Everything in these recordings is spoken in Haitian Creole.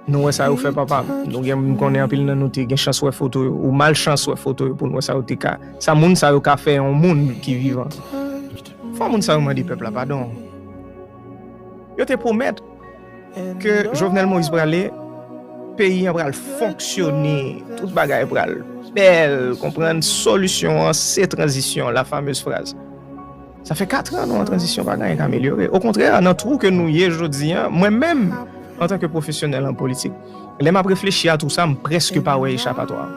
Nou wè sa yo fè papa m. Nou gen m konnen anpil nan nou te gen chans wè foto yo ou mal chans wè foto yo pou n wè sa yo te ka sa moun sa yo ka fè yon moun ki vivan. Fò moun sa yo mande pèp la padon. Yo te pwomèt ke Jovenel Moïse prale peyi an pral fonksyone tout bagay pral bèl konprann solisyon an se tranzisyon la fameuse phrase. Sa fè 4 an nou an tranzisyon pa gen anyen k amelyore. Okontrè, nan twou ke nou ye jodi an, mwen menm, antanke pwofesyonèl an politik, lè m ap reflechi a twou sa, m prèske pa wè echapatwa.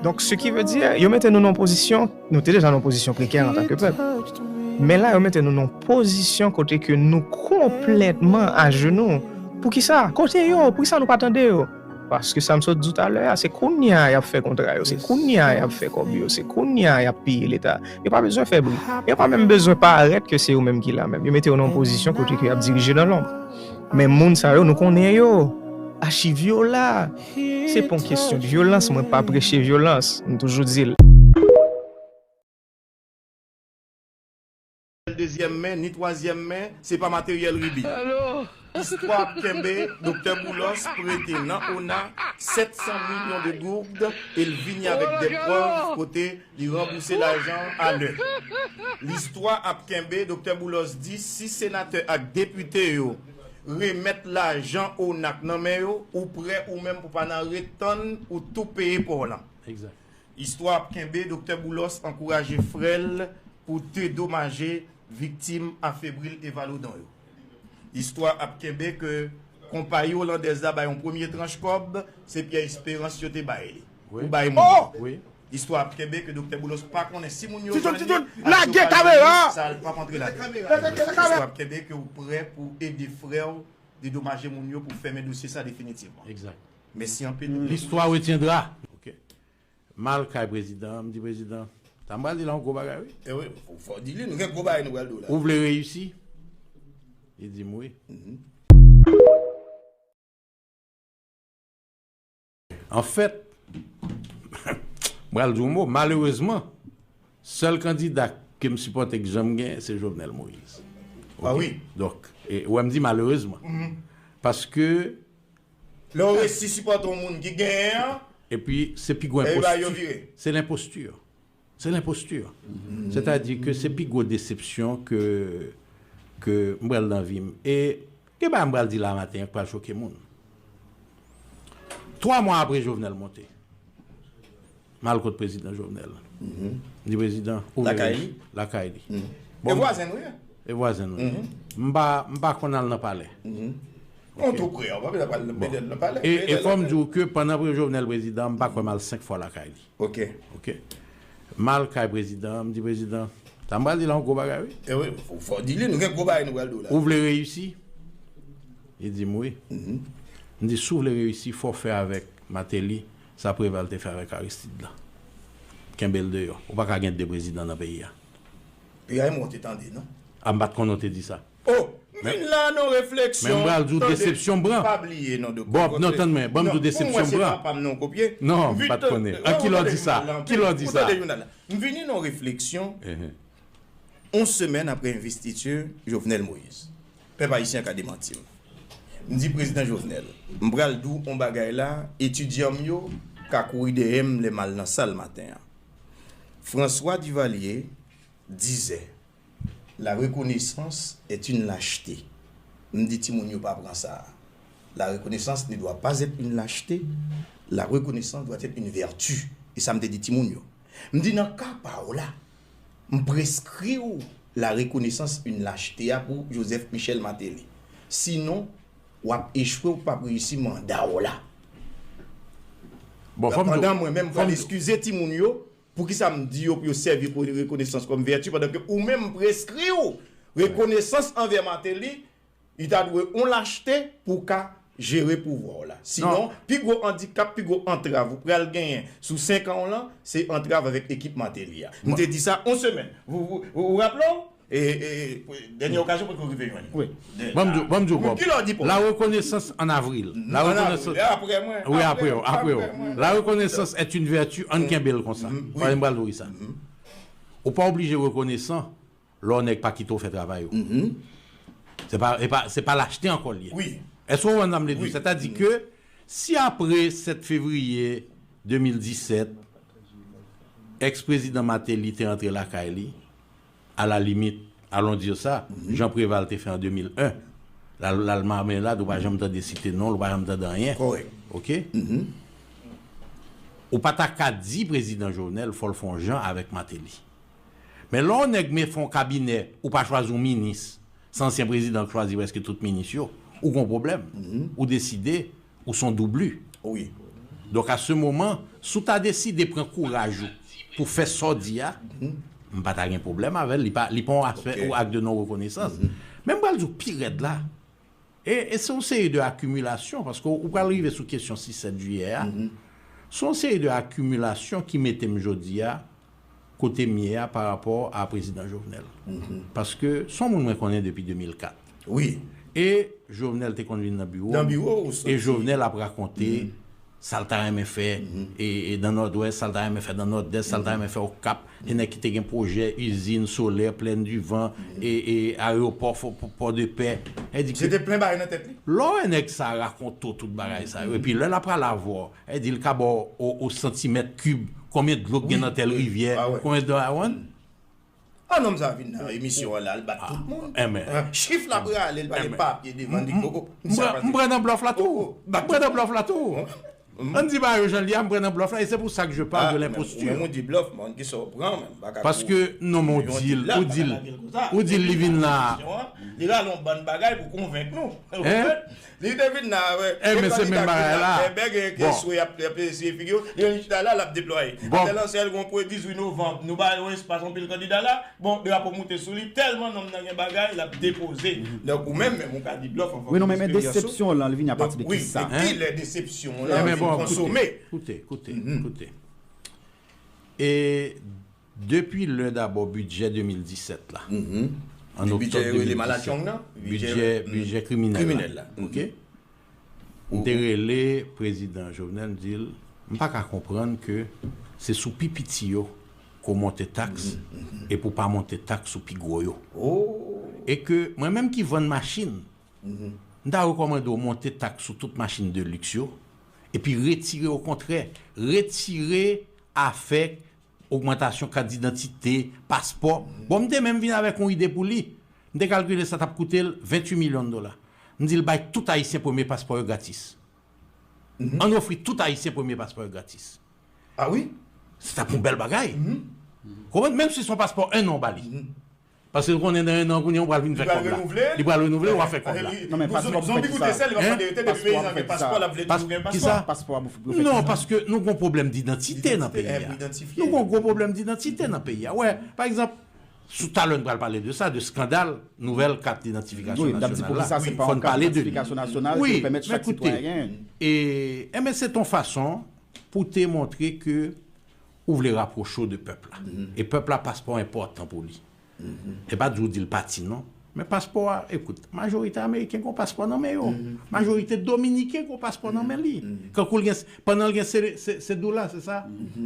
Donk, se ki ve di, yo mete nou nan yon pozisyon, nou te deja nan yon pozisyon prekè antanke pèp, men la yo mete nou nan yon pozisyon kote ke nou konplètman ajenou. Poukisa? Kote yo? Poukisa nou pa tande yo? Paske sa m sot di w talè a, se kounye a y ap fè kontra yo, se kounye a y ap fè kòb yo, se kounye a y ap peye Leta. Yo pa bezwen fè bri. Yo pa menm bezwen parèt ke se yo menm ki la menm. Yo mete yo nan yon pozisyon kote ke y ap dirije nan lonb. Men moun sa yo, nou konnen yo. Achiv yo la. Se pa yon kesyon de vyolans. Mwen pa preche vyolans. M toujou di l. dezyèm men, ni twazyèm men, se pa materyèl ribi. Istwa ap kenbe, Doktè Boulos prete nan ona 700 milyon de gourd e l vini avèk dè prèv kote li ranbouse lajan an a lè. Listwa ap kenbe, Doktè Boulos di si senatè ak depite yo remèt lajan ona k nan men yo, ou prè ou menm pou pa nan ret tann ou tou peye pa w lan. Istwa ap kenbe, Doktè Boulos ankouraje frè l pou dedomaje viktim a Fébril Évallaudon yo. Istwa ap kenbe ke konpayi Olandèz la bay yon premye tranch kòb, se Pierre Espérance yo te bay li pou bay moun yo. Istwa ap kenbe ke Doktè Boulos pa konnen si moun yo jwenn li ak yo pa jwenn li, sa l pap antre ladan l. Istwa ap kenbe ke ou prè pou ede frè w dedomaje moun yo pou fèmen dosye sa definitivman. Mesi anpil wi. Listwa retiendra ok. Mal kay prezidan an m di prezidan sa m pral di la yon gwo bagay wi. Ewi fò di li nou gen gwo bagay nou pral di w la. Ou vle reyisi? Li di m wi. Anfèt m pral di w yon mo malerezman sèl kandida ke m sipòte k janm gen se Jovenel Moïse. Donk ou wè m di malerezman paske Lè w resi sipòte yon moun ki genyen an, Epi se pi gwo epi bay yo enposti, vire. se lenposti. Se lenposti. Sètadi ke se pi gwo desepsyon ke ke m pral nan vi m. E gen bagay m pral di la maten an k pral choke moun. Twa mwa apre Jovenel monte. M al kot prezidan Jovenel. M di prezidan ou vle lakay li. Lakay li. E vwazen nou ye. E vwazen nou ye. M pa konn al nan palè. Ou tou pre a, ou pa bezwen pral mete nan palè. E fò m di ou ke pandan Jovenel prezidan m pa kwè m al 5 fwa lakay li. Ok. Ok. M al kay prezidan an, m di prezidan, sa m pral di la yon gwo bagay wi. E wi, fò w di li, nou gen gwo bagay nou pral di w la. Ou vle reyisi? Li di m wi. M di si w vle reyisi fò w fè avèk Mateli Sa Preval te fè avèk Aristide la. Kenbe l deyò. Ou pa ka gen 2 prezidan nan peyi a. PAM ou te tande non. A m pa t konnen w te di sa. Oh! M vin la non refleksyon. Men m pral di w desepsyon m pran. Pa bliye non Doktè. Bon, non tann mwen. Ban m di w desepsyon m pran. Pou m wè se pa pa m non w kopye. Non, m pa t konnen. An ki lè w di sa? Ki lè w di sa? Ou tande jounal la. M vini non refleksyon. On semèn aprè envestiti Jovenel Moïse. Pèp Ayisyen ka demanti m. M di Prezidan Jovenel, m pral di w on bagay la, etidyan m yo ka kouri dèyè m lè m al nan sal maten an. François Duvalier dizè, La reconnaissance est une lâcheté. M di timoun yo pa pran sa a. La reconnaissance ne doit pas être une lâcheté, la reconnaissance doit être une vertu. E sa m te di timoun yo. M di nan ka pa w la, M preskri w la rekonesans yn lachte a pou Joseph Michel Martelly. Sinon, w ap echwe w pap reyisi manda w la. Pandan mwen menm m pral eskize timoun yo, poukisa m di yo pou yo sèvi rekonesans kòm vèti pandan ke ou menm m preskri w rekonesans anvè Martelly, U ta dwe on lachte pou w ka jere pouvwa w la. Sinon, pi gwo andikap, pi gwo antrav ou pral genyen sou 5 an w lan, se antrav avèk ekip Martelly a. M te di sa on semèn. Ou raple w? E dènye okazyon potko rive jwenn li. Wi. Ban m di w kòb. Ki lè w di pou m? Larekonesans an avril. An avril. E apre mwen? Wi apre w. Apre w. Larekonesans est une vertu, an n kenbe l konsa. Paske m pral di w kisa. Ou pa oblije rekonesan Lò nèg pa kite w fè travay ou, se pa lachte ankò l ye. Èske w konprann sa m vle di w? Sètadi ke si apre 7 fevriye 2017, ex prezidan Martelly te antre lakay li, a la limit, alon dire sa, jan Preval te fè an 2001, l al l al Marmelade, ou pa janm tande site non l, ou pa janm tande anyen. Ok? Ou pa ta ka di prezidan Jovenel fò l fè yon jan avèk Martelly. Men lè yon nèg me fè yon kabinè ou pa chwazi yon minis, se ansyen prezidan k chwazi prèske tout minis yo, ou gen yon pwoblèm. Ou deside ou se yon doubli. Donk a se moman, si w ta deside pran kouraj ou pou w fè sa w di a, m pa ta gen pwoblèm avè l, li pa yon aspè ou ak de non rekonesans. Men m pral di w pi rèd la. E se yon seri de akimilasyon, paske ou pral rive sou kesyon 6, 7 jiyè a, se yon seri de akimilasyon ki mete m jodi a kote m ye a pa rapò a Prezidan Jovenel. Paske se yon moun mwen konnen depi 2004. E Jovenel te konn vin nan biwo m, e Jovenel ap rakonte sa l ta renmen fè dan Nòdwès, sa l ta renmen fè dan Nòdès, sa l ta renmen fè Okap, gen nèg ki te gen pwojè izin solè, plèn di van, areyopò Pòdepè. Se te plen bagay nan tèt li. Lè w wè nèg sa rakonte w tout bagay sa yo, epi lè l apral avè w, e di l ka ba w o santimèt kib konbyen dlo k gen nan tèl rivyè, konbyen dlo a, ou konprann? Ah nonm sa vin nan emisyon an la al bat tout moun chif la prale li pa gen papye devan li oh oh m pran nan blòf la tou m pran nan blòf la tou an di ba yo jan li a m pran nan blòf la e se pou sa k je pale de lenpostur ou menm ou di blòf men an ki sa w pran menm baka paske non men w di l ou di l ou di l li vin la li rale yon bann bagay pou konvenk nou Li te vin la avè de kandida ki vin la bèbè genyen ki eswe ap eseye figi yo, li menm li chita la lap deplwaye. Atè lan sèl gon kwe 18 novanb nou ba yo espas anpil kandida la, bon drapo moute sou li tèlman nonm nan gen bagay lap depoze. Donk ou menm menm ou ka di blòf an fanmi lesperyans ou. Donk wi men kilè desepsyon w lan vin konsome. Koute koute koute e. Depi lè dabò bidjè 2017 la, an oktòb 2017, bidjè kriminèl la, ok, m te rele prezidan Jovenel m di l m pa ka konprann ke se sou pi piti yo ke w monte taks e pou w pa monte taks sou pi gwo yo. E ke mwen menm ki vann machin, m ta rekòmande w monte taks sou tout machin de liks yo epi retire okontrè, retire afè Ogmantasyon kat didantite, paspò, bon m te menm vin avèk yon ide pou li. M te kalkile sa t ap koute l 28 milyon dola. M di l bay tout Ayisyen premye paspò yo gratis. Ann ofri tout Ayisyen premye paspò yo gratis. A wi. Se t ap yon bèl bagay. Ou konprann? Menm si se yon paspò enn an w ba li. Paske l konnen nan 1 an kounye a ou pral vin fè kòb la. Li pral renouvle, wa fè kòb la. Non men paspò pou w fè kisa? Hein? Paspò kisa? Paspò pou w fè kisa? Non paske nou gon pwoblèm didantite nan peyi a. Nou gon gwo pwoblèm didantite nan peyi a. Wè, pa egzanp, sou talè n pral pale de sa, de skandal nouvèl kat didantifikasyon nasyonal la. Fò n pale de li. Wi, men koute. E men se ton fason pou te montre ke. Ou vle rapwoche w de pèp la. E pèp la paspò a enpòtan pou li. E pa di w di l pati non. Men paspò a, ekout, majorite ameriken gen yon paspò nan men yo. Majorite dominiken gen yon paspò nan men li. Kankou l gen, pandan l gen sedoula, se sa?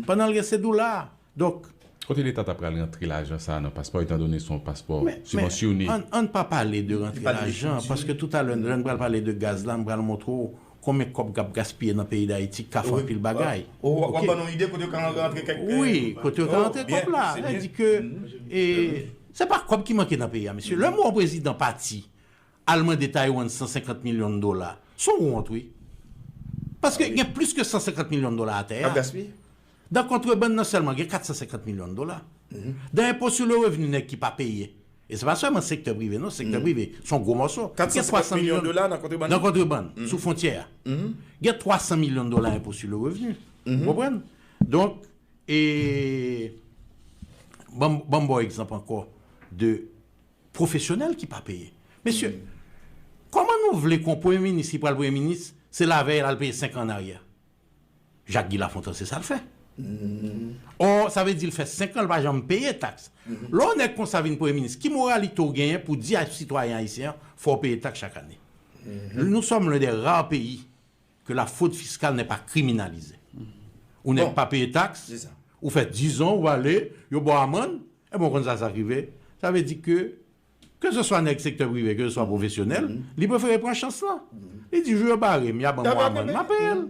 Pandan l gen sedoula. Donk. Kote leta ta pral rantre lajan sa a nan paspò etandone se yon paspò sibvansyone? Men, ann pa pale de rantre lajan, paske toutalè lè n pral pale de gaz la, m pral montre w konbyen kòb kap gaspiye nan peyi dayiti kaf anpil bagay ok wi kote yo ka antre kòb la lè di ke e se pa kòb ki manke nan peyi a mesye lèm wè yon prezidan pati al mande taiwan 150 milyon dola son wont wi paske gen plis ke 150 milyon dola atè a Dan kontrebann nan sèlman gen 450 milyon dola. Dan enpo sou le revni nèg ki pa peye. E se pa sèlman sektè prive non, sektè prive se yon gwo mòso. 450 milyon dola nan kontrebann? Nan kontrebann, sou fwontyè a. Gen 300 milyon dola enpo sou le revni. Ou konprann? Donk, e ban m ba w egzanp ankò de pwofesyonèl ki pa peye. Mesye, kòman nou vle ke yon premye minis ki pral premye minis se lavèy l al peye 5 an an aryè? Jacques Guy Lafontant se sa l fè. Or sa vle di l fè 5 an l pa janm peye taks. Lè w nèg konsa vin premye minis ki moralite w genyen pou di a sitwayen ayisyen an fò w peye taks chak ane. Nou sòm len dè rare peyi ke la frod fiskal nè pa kriminalize. Ou nèg pa peye taks, ou fè 10 zan ou ale, yo ba w amann, e ben w konn sa sa k rive? Sa vle di ke ke se swa nèg sektè prive, ke se swa pwofesyonèl, li prefere pran chans lan. Li di jou yo bare m, y a ban m yon amann, m a peye l.